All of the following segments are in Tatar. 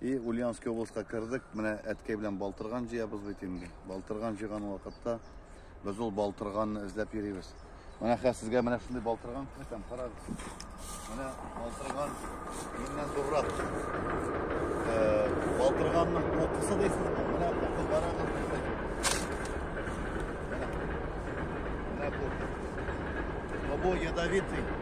И Ульяновский областька кердек. Менә әткәй белән балтырган җыябыз бит инде. Балтырган җыйган вакытта без ул балтырганны эзләп йөрибез. Менә хәзер сезгә менә шундый балтырган күрсәтәм, карагыз. Менә балтырган миннән зуррак. Э, балтырганның кокысы дисез, менә кокы карагыз. Менә кокы. Бабо ядовитый.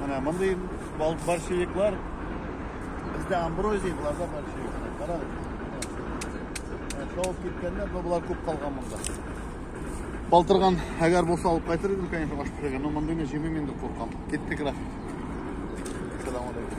Менә мондый бал борщевиклар бездә амброзия, буларда борщевик. Карагыз. Шауып киткәннәр, но болар күп калган монда. Балтырган, әгәр булса алып кайтыр идем, конечно, аш пешергән, но мондыйны җимим инде куркам. Киттек, рәхмәт. Салам алейкум.